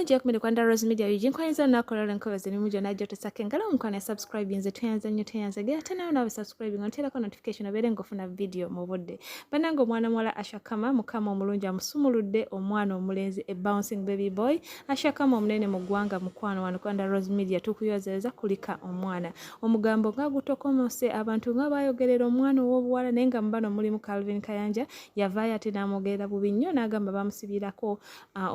Jack Midi Kwanda Rose Media Eugene Kwanza olunaku olwalero nkubaza emirimu gyonna gy'otesako engalo omukwano subscribe nze tweyanza nnyo tweyanza gera ate nawe nawe subscribe nga nteerako notification obeere ng'ofuna vidiyo mu budde bannange omwana muwala ashakama mukama omulungi amusumuludde omwana omulenzi a bouncing baby boy ashakama omunene mu ggwanga mukwano wano Kwanda Rose Media tukuyozereza kulika omwana omugambo nga gutokomose abantu nga bayogerera omwana ow'obuwala naye nga mubano mulimu calvin kayanja yavaayo ate n'amwogerera bubi nnyo n'agamba bamusibirako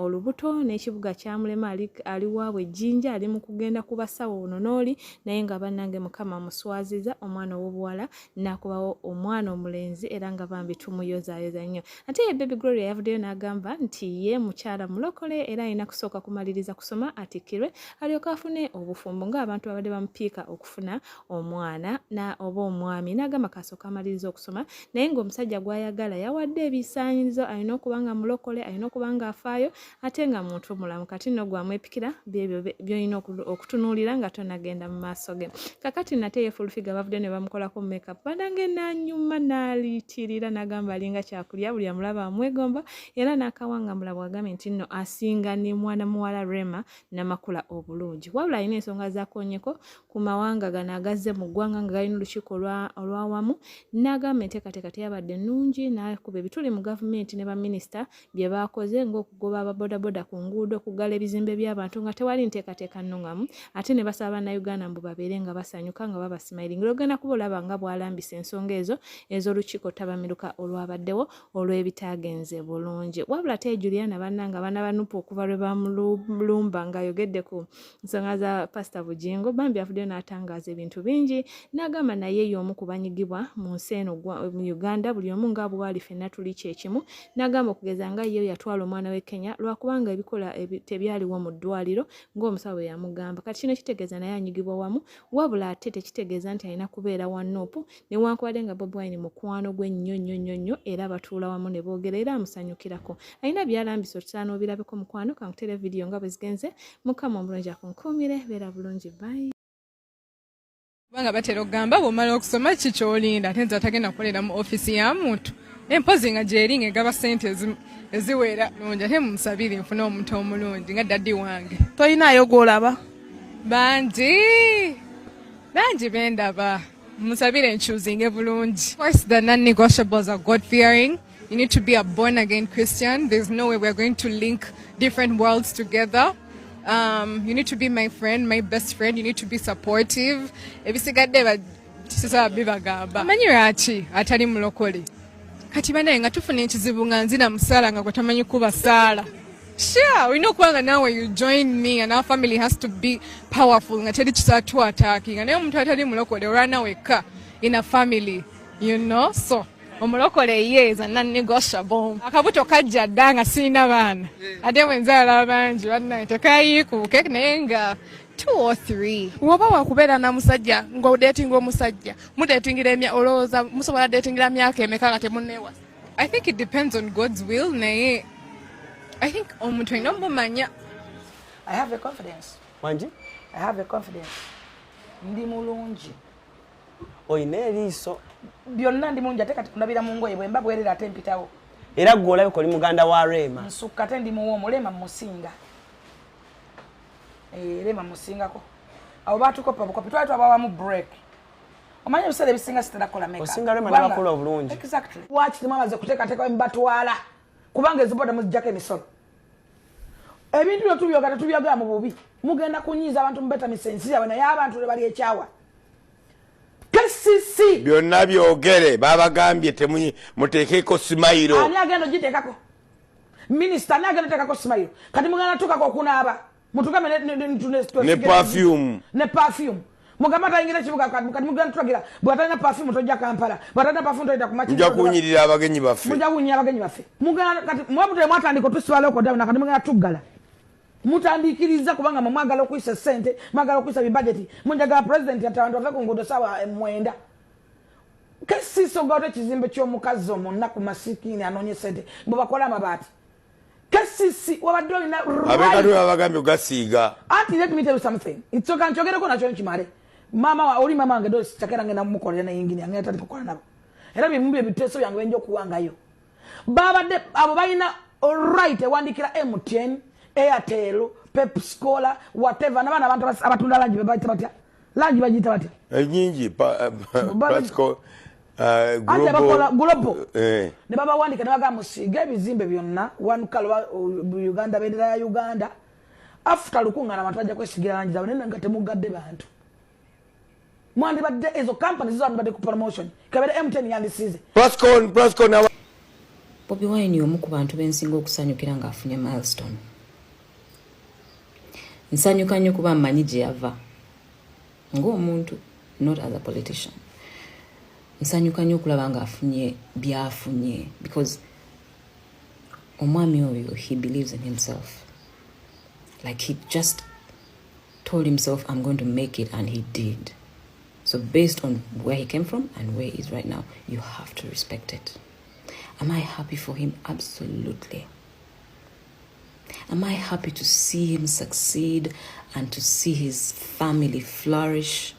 olubuto n'ekibuga kyamulema ali waabwe ejjinja ali mu kugenda ku basawo ono n'oli naye nga bannange mukama muswaziza omwana ow'obuwala nakubawo omwana omulenzi era nga bambi tumuyozayoza nnyo ate ye baby gloria yavuddeyo n'agamba nti ye mukyala mulokole era alina kusooka kumaliriza kusoma atikkirwe alyoke afune obufumbo ng'abantu babadde bamupiika okufuna omwana na oba omwami n'agamba kasooka amaliriza okusoma naye ng'omusajja gw'ayagala yawadde ebisaanyizo alina okuba nga mulokole alina okuba nga afaayo ate nga muntu omulamu kati no gwamwepikira byebyo byolina okutunuulira nga tonagenda mu maaso ge kakati nate ye fulfiga bavudde ne bamukolako makeup banange nanyuma naliitirira nagamba alinga kyakulya buli amulaba amwegomba era nakawangambula bwagambye nti nno asinga ne mwana muwala rema namakula obulungi wabula alina ensonga zakonyeko ku mawanga gano agazze mu ggwanga nga galina olukiiko olwawamu nagamba enteekateeka teyabadde nnungi nakuba ebituli mu gavumenti ne baminisita bye baakoze ng'okugoba ababodaboda ku nguudo okuggala ebizimbe by'abantu nga tewali nteekateeka nnung'amu ate ne basaba bannayuganda mbu babeere nga basanyuka nga babasimayiringa olwogenda kuba olaba nga bwalambisa ensonga ezo ez'olukiiko ttabamiruka olwabaddewo olw'ebitaagenze bulungi wabula tee juliana bannanga abaana banupu okuva lwe bamulumba ng'ayogedde ku nsonga za pasita bugingo bambi avuddeyo n'atangaaza ebintu bingi n'agamba naye y'omu ku banyigibwa mu nsi eno mu uganda buli omu nga bwali fenna tuli kyekimu n'agamba okugeza nga ye yatwala omwana we kenya lwakubanga ebikola tebyaliwo mu ddwaliro ng'omusawo bwe yamugamba kati kino kitegeeza naye anyigibwa wamu wabula ate tekitegeeza nti alina kubeera wa nuupu newankubadde nga bobi wine mukwano gwe nnyo nnyo nnyo nnyo era batuula wamu ne boogera era amusanyukirako alina byalambisa otutera n'obirabeko mukwano kankutere vidiyo nga bwe zigenze mukama omulungi akunkuumire beera bulungi bayi kubanga batera okugamba bwomala okusoma ki kyolinda ate nze atagenda kukolera mu ofiisi ya muntu empozi nga gyeri nga egaba sente eziwera lungi ate mumusabire nfune omuntu omulungi nga daddi wange tolinayo gwolaba bangi bangi bendaba musabire nkyuzinge bulungi course the non-negotiables are god fearing you need to be a born again christian there's no way we're going to link different worlds together um, you need to be my friend my best friend you need to be supportive ebisigadde sisaba bibagamba manyi lwaki atali mulokole kati banaye nga tufuna ekizibu nga nzina musaala nga gwe tamanyi kuba saala Sure, we know kwanga now when you join me and our family has to be powerful nga teri kisatu attacking naye omuntu atali mulokole olwana wekka in a family you know so omulokole ye is a non-negotiable akabuto kajja dda nga sirina baana eh. ate bwenzaala bangi bannaye tekayiikuuke naye nga woba wakubeera na musajja nga odetinga omusajja mudetingira olowooza musobola detingira myaka emeka nga temuneewasa I think it depends on God's will naye I think omuntu alina omumanya I have a confidence. Wangi? I have a confidence. Ndi mulungi. Oyina eriiso. Byonna ndi mulungi ate kati kulabira mu ngoye bwemba bwerera ate mpitawo. Era gwe olabika oli muganda wa Reema. Nsukka ate ndi muwoomu Reema musinga. Eh, Reema musingako. Abo baatukopa bukopi twali twabawamu break. omanyi ebiseera ebisinga sitera kola meka osinga rema nabakola obulungi exactly waki temwamaze kuteekateeka mubatwala kubanga eziboda muzijjako emisolo ebintu byo tubyoga tetubyogera mu bubi mugenda kunyiiza abantu mubetamisa ensi yabwe naye abantu lwe bali ekyawa kcc byonna byogere babagambye temuteekeko simayiro ani agenda ogitekako minisita ani agenda otekako simayiro kati mugenda tukako okunaaba mutugambe ne perfume ne perfume mugamba tayingira ekibuga kati mugenda tulagira bwatalina perfume tojja kampala bwatalina perfume toyita kumamuja kunyirira abagenyi baffe muja kunyirira abagenyi baffe mugenda kati mwabutale mwatandika otusiba lockdown kati mugenda tuggala mutandiikiriza kubanga mwe mwagala okuyisa sente mwagala okuyisa bibajeti munjagala pulezidenti ati abantu bave ku nguudo saawa eh, mwenda kesisogaoto ekizimbe ky'omukazi omunnaku masikiini anoonya sente bwe bakola amabaati Kasisi wabadde olina abekatwe babagambye ogasiiga anti let me tell you something nsoka nkyogereko nakyo nkimale maama wa oli maama wange dosi cakera ngenda mumukolera ne yingini yange yatandika okukola nabo era byebimu byebiteeso byange benja okuwangayo babadde abo balina right ewandikira mtn airtel pepscola whatever nabaana abantu abatunda langi bebaita batya langi bagiyita batya enyingi Uh, anti abakola gulobo eh. ne babawandika ne bagamba musiige ebizimbe byonna wanukalo uh, uganda bendera ya uganda afuta lukungana abantu bajja kwesigira langi zaabwe naye nga temugadde bantu mwandibadde ezo kampani zizo andibadde ku promotion kabere mtn yandisize bobi wine omu ku bantu bensinga okusanyukira ng'afunye milestone nsanyuka nnyo kuba mmanyi gye yava ng'omuntu not as a politician nsanyuka nnyo okulaba ng'afunye byafunye because omwami oyo he believes in himself like he just told himself i'm going to make it and he did so based on where he came from and where he is right now you have to respect it am i happy for him absolutely Am I happy to see him succeed and to see his family flourish?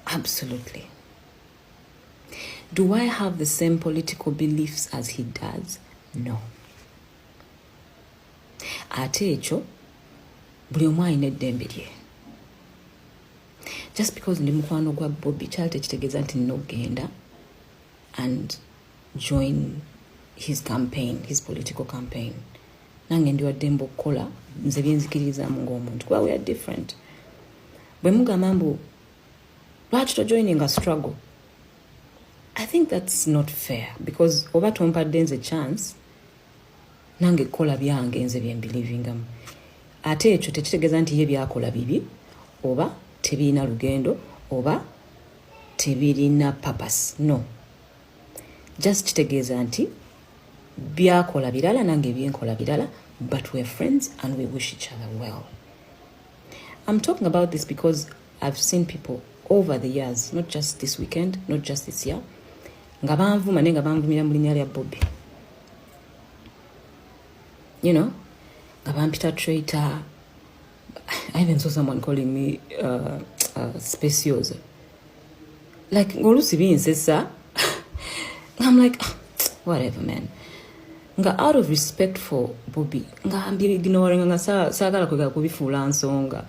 Absolutely. Do I have the same political beliefs as he does? No. Ate ekyo buli omu alina eddembe lye just because ndi mukwano gwa bobi kyali tekitegeeza nti nina okugenda and join his campaign his political campaign nange ndi waddemba okukola nze byenzikirizamu ngaomuntu kuba weare different bwe mugamba mbu lwaki tojoininga struggle i think that's not fair because oba tompadde nze chance nange kola byange nze byembilivingamu ate ekyo tekitegeeza nti ye byakola bibi oba tebirina lugendo oba tebirina papas no just kitegeeza nti byakola birala nange byenkola birala but we're friends and we wish each other well i'm talking about this because I've seen people over the years not just this weekend not just this year nga banvuma naye nga banvumira mu linnya lya bobi you know nga bampita traitor i even saw someone calling me uh, uh, speciosa like ng'oluusi binsesa i'm like ah, whatever man nga out of respect for bobi nga mbirignoringa nga saagala kwegala kubifuula nsonga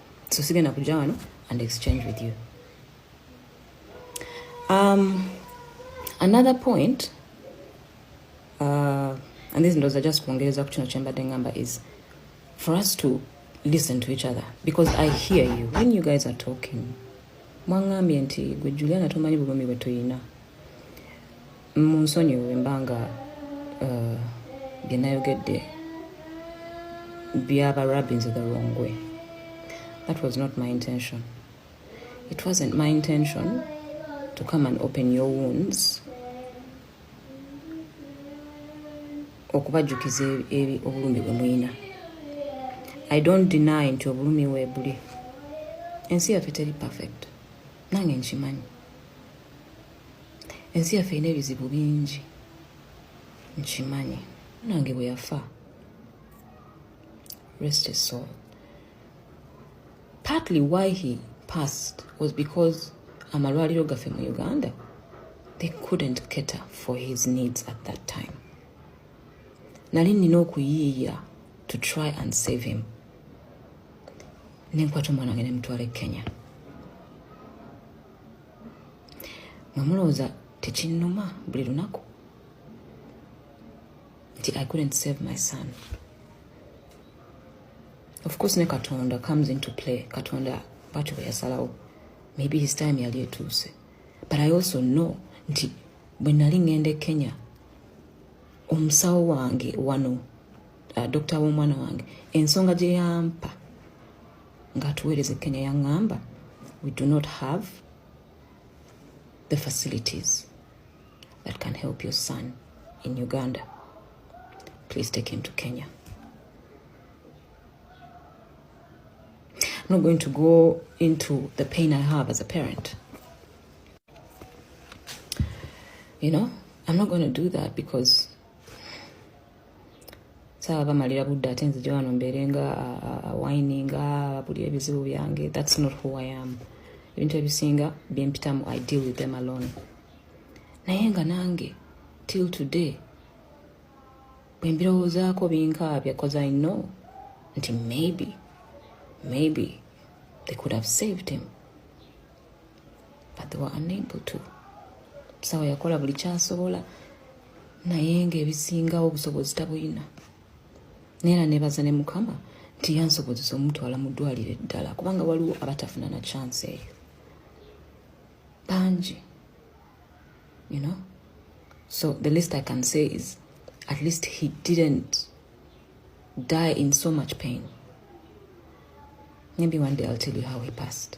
so sigenda kujja wano and exchange with you um, another point uh, and this ndoza just kuongereza ku kino kyembadde ngamba is for us to listen to each other because i hear you when you guys are talking mwangambye nti gwe juliana tomanyi bulumi bwe tuyina munsonyiwe mbanga uh, byenayogedde byaba rabins the wrong way that was not my intention it wasn't my intention to come and open your wounds okubajjukiza eri obulumi bwe muyina i don't deny nti obulumi webuli ensi yaffe teri perfect nange nkimanyi ensi yaffe erina ebizibu bingi nkimanyi nange bwe yafa rest his soul partly why he passed was because amalwaliro gaffe mu uganda they couldn't cater for his needs at that time nali nina okuyiiya to try and save him nenkwata omwana wange nemutwala e kenya nga mulowooza tekinnuma buli lunaku nti i couldn't save my son of course ne katonda comes into play katonda bwatyo bwe yasalawo maybe his time yali etuuse but i also know nti bwe nali ŋŋenda e kenya omusawo wange wano uh, dokita w'omwana wange ensonga gye yampa ng'atuweereza ekkenya yaŋŋamba we do not have the facilities that can help your son in uganda please take him to kenya I'm not going to go into the pain i have as a parent you know i'm not going to do that because sawa bamalira budde ate nzija wano mbeere nga awininga buli ebizibu byange thats not who i am ebintu ebisinga byempitamu i deal with them alone naye nga nange till today bwembirowoozaako binkaabya bcause i know nti maybe maybe they could have saved him but they were unable to sawa yakola buli kyasobola naye nga ebisingawo obusobozi tabuyina neera nebaza ne mukama nti yansobozesa omutwala mu ddwaliro eddala kubanga waliwo abatafuna na chance eyo bangi you know so the least i can say is at least he didn't die in so much pain maybe one day i'll tell you how he passed